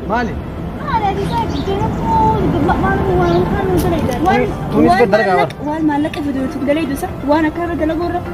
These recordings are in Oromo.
Maali? Tunis gad dalagaa waan maallaqa fidu dalagu isa waan akka irra dalagu irra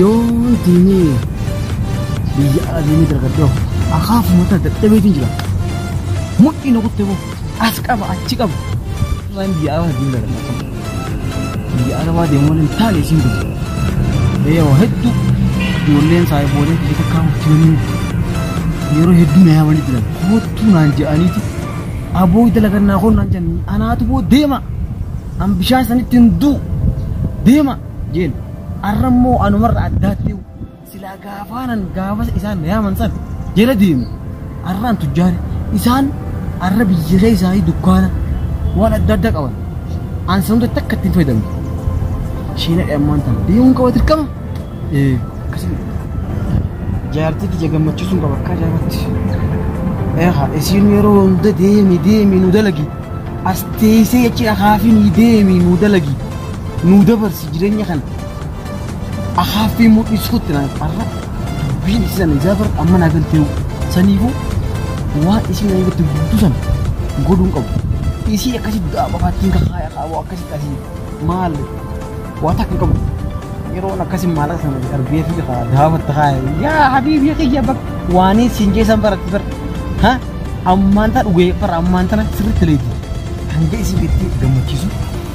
Yoo diinii biyya ala deemee dargaggee of akaaf mataa dadhabeetiin jira. Mudhii na kutte boo as qaba achi qaba. Waan biyya ala deemee dargaggee qaba. Biyya ala waa deemuu hin taane isin biyya. Biyya waa hedduu ijoolleen isaa boolee kee takkaa hojjetanii yeroo hedduu na yaamanii jiran koottuu naan jedhaniiti. Aboo dalagan naa koon naan jedhan anaatu boo deema. An bishaan sanitti hin duu deema. Jeen, Arra immoo anumarra addaattiyu, silaa gaafaanan gaafasa isaan na yaaman san jala deemu, arraan tujjaari. Isaan arra biyya keessaayii dukkaana, waan adda addaa qaban. An san hunda takka itti hin fayyadamne. Isheen hadhe ammaan tana deemuun qaba dirqama? Ee, akkasiin jedhe. Jaartii tiyya gammachiisuun qaba akka ajaa'ibatti. Eegaa isiin yeroo hunda deemi deemi nu dalagi. As teessee jechi akaafiin deemi nu dalagi. nuu dabarsi jireenya kana akaaffii mul'isuutti naan qarra dubbiin isii sana ijaa bara amma naa galtee saniifuu waan isiin na irratti guutuu sana godhuun qabu isii akkasitti du'aa bafaattiin kakaaya qabu akkasitti asii maal waa takka hin qabu yeroon akkasiin maallaqa sana argee fi daawwatta kaaya yaa habiibii kiyya bakka waaniin siin geessan baratti bara ha ammaan tana dhugee bara ammaan tana sirriitti leeti hanga isiin gattee gammachiisu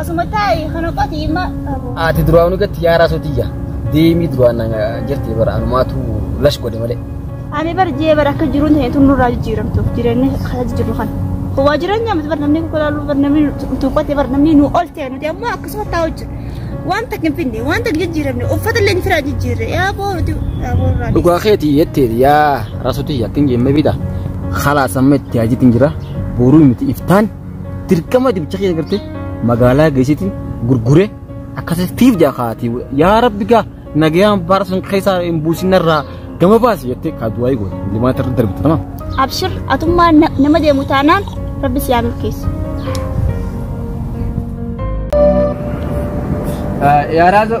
Asuma taa'i kana qotii ma qabu. Ati duraan gatti yaaraa sootiyya. Deemii duraan jirti bara anumaatu lash godhe malee. Ani bar jee bar akka jiruun ta'e tun nurraa jijjiiramtu jireenya kana jijjiirru kana. Waa jireenya miti bar namni kokolaaluu bar namni tuuqqate bar namni nu ol ta'e nuti ammoo akkasuma taa'u jiru. Waan takka hin finne waan takka jijjiiramne uffata illee firaa jijjiirre yaa booruti yaa boorraa. Dhugaa keetii jetteeti yaa rasotiyya akkin jemme bita. Khalaa sammetti haajitiin jira. Boruu miti iftaan. Dirqama dibicha kiyya gartee magaalaa geessitiin gurgure akkasii tiif jaa kaati yaa rabbi gaa nagayaan baara san keessaa hin buusin narraa gama baasi jettee kaa du'aa eegoon limaa tarra darbita nama. Abshir atummaa na- nama deemu taanaan rabbi si haa milkeessu. Yaa raazoo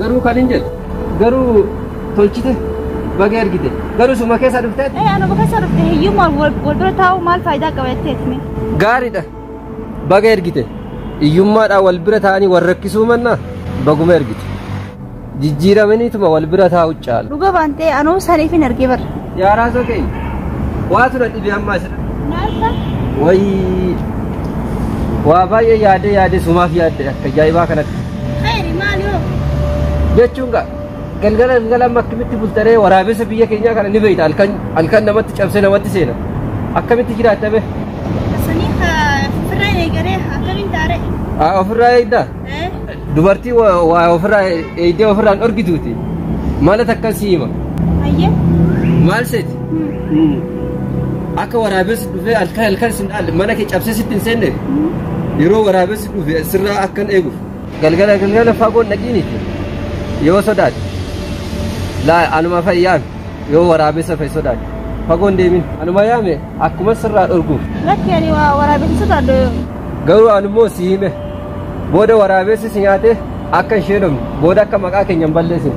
Garuu kan hin jedhu garuu tolchite baga ergite garuu suma keessa dhufteet Ee anuma keessa dhufte hiyyummaan wal wal bira taa'uu maal faayidaa qaba jettee hime. gaariidha baga ergite hiyyummaadhaan wal bira taa'anii wal rakkisuu mannaa baguma ergite jijjiiramaniituma wal bira taa'u caalu. Dhuga baantee anuu saniif hin argee bara. Yaa raasoo keenya waatu na dhibe ammaa isa Naalta. wayii waa baay'ee yaadee yaadee sumaaf yaadde akka ajaa'ibaa kanatti. Khayri maal yoo? jechuun gaa galgala galgala amma akkamitti bultaree waraabessa biyya keenyaa kana ni beekta halkan halkan namatti cabsee namatti seena akkamitti jiraatta bee Sanii firraa eegalee akkamiin taaree? Aa, ofirraa eegdaa Eh? dubartii wa- waa ofirraa eegdee ofirraan dhorgituuti maala takka si hima Hayyee? maal seeti Hmm. akka waraabessi dhufee halkan halkan sin dhaal mana kee cabsee sitti hin seenne yeroo waraabessi dhufe sirraa akkan eeguuf. Galgala galgala fagoon dhaqiiniti yoo sodaate laa anuma fayyaan yoo waraabessa fa'i sodaate fagoon deemin anuma yaame akkuma sirraa dhorguuf. Lakki ani waraabessa sodaadha yoo. Garuu anummoo si hime booda waraabessi si nyaate akka ishee dhumne booda akka maqaa keenya hin balleessine.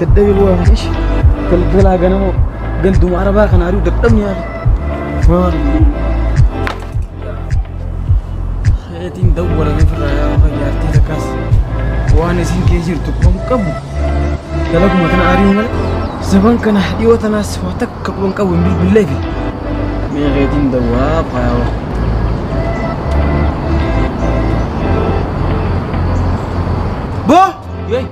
Dadhabe bu'aa kan ishi galgalaa ganama ganduma arabaa kan ari'u dadhabni yaada. Maal? Hayatiin dawwala ofirraa yaa ofa jaartii takkaas waan isin kee jirtu kan qabu dalaguma tana ari'u malee zaban kana dhiyoo tanaas waa takka quban qabu hin bilbillee fi mee hayatiin dawwaa faayaa Boo! Yee.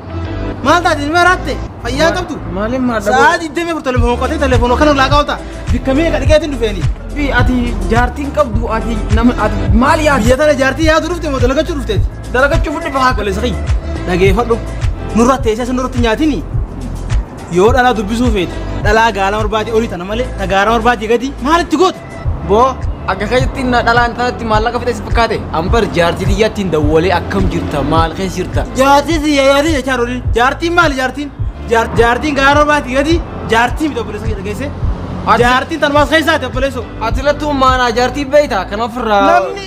Maal taate ilma raatte? Fayyaa qabdu? Maaliin maadha? Sa'aa 24 telefoon hoqqatee telefoon kan ulaa qaawta. Bikka meeqa dhiqeetiin dhufeeni? Bi ati jaartiin qabdu ati nama ati maal yaadda? Biyya tana jaartii yaadu dhufte moo dalagachuu dhufteeti? Dalagachuu fudhi bahaa. Wale sahi dhageeffadhu nurra teessee sun nurratti nyaatini yoo dhalaa dubbisuu feete dhalaa gaala marbaadii olii tana malee ta gaara marbaadii gadi maalitti goote? Boo akka keessatti na dhalaan tanatti maallaqa fixee si fakkaate an bar jaartii tiyyattiin dawwalee akkam jirta maal keessa jirta jaartii si jaartii jechaa roolin jaartiin maali jaartiin Jaar- jaartiin gaara baati gadi jaartii miti obboleessa kee dhageesse Ati- jaartiin tanumaas keessaa ti obboleessoo ati lattuu maanaa jaartii beeyta kan ofirraa namni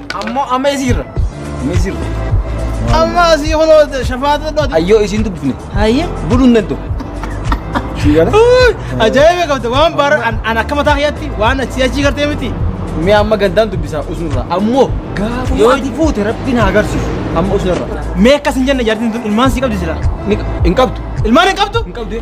Ammoo amma isiirra. Amma isiirra. Amma asii kunoo shafaata dhooti. Ayyoo isiin dubbifne. Hayyee. Buluun danda'u. Ajaa'iba qabda waan bara an akka mataa kiyyaatti waan achii achii gartee miti. Mee amma gandaan dubbisaa usunirraa. Ammoo gaafa yoo itti fuute rabbiin haa agarsiisu. Amma usunirraa. Mee akkas hin jenne jaartiin tun ilmaan sii qabdi silaa. Hin qabdu. Ilmaan hin qabdu? Hin qabdu.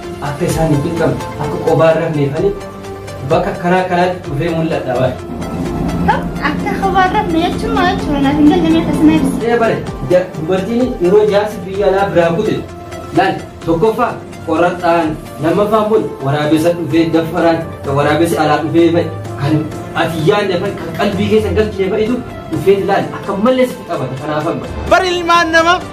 Akka isaan hin cinqamne, akka qobaa hin rafneef ani bakka akkanaa kanaatti dhufee mul'adha bara. Akka kophaa hin rafne jechuun maal jechuudha? Naaf hin galle mee akkasuma ibsi. Ee bare, ja- dubartiin yeroo jaarsi biyya alaa biraa kute laal tokkoffaa qoraxaan lammaffaa immoo waraabessa dhufee daffaraan kan waraabessi alaa dhufee fa'i kan ati yaadne fa'i kan qalbii keessa galchine fa'itu dhufee laal akka mallee sitti qabata kanaaf amma. Bar ilmaan nama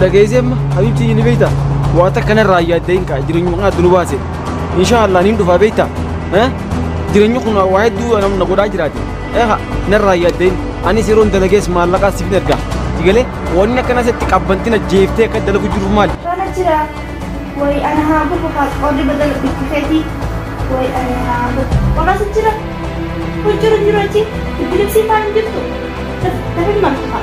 Dhageessee amma Habiibtii ni beekta. Waa takka narraa yaaddee hin ka'a jireenyi maqaa adda nu baase. Inshaallah niin dhufaa beekta. Jireenyi kun waa hedduu nam na godhaa jiraate. Eha narraa yaaddee anis yeroon dalagees maallaqaa siif hin ergaa. Sigalee wanni akkana sitti qabbantina jeeftee akka dalagu jiru maali? Kana jira. Wayi ana haa gubu haa qorri badala bitti feeti. Wayi ana haa gubu. Qoras jira. Hojjira jira achi. Bilisii faan jirtu. Lafa hin martu faa.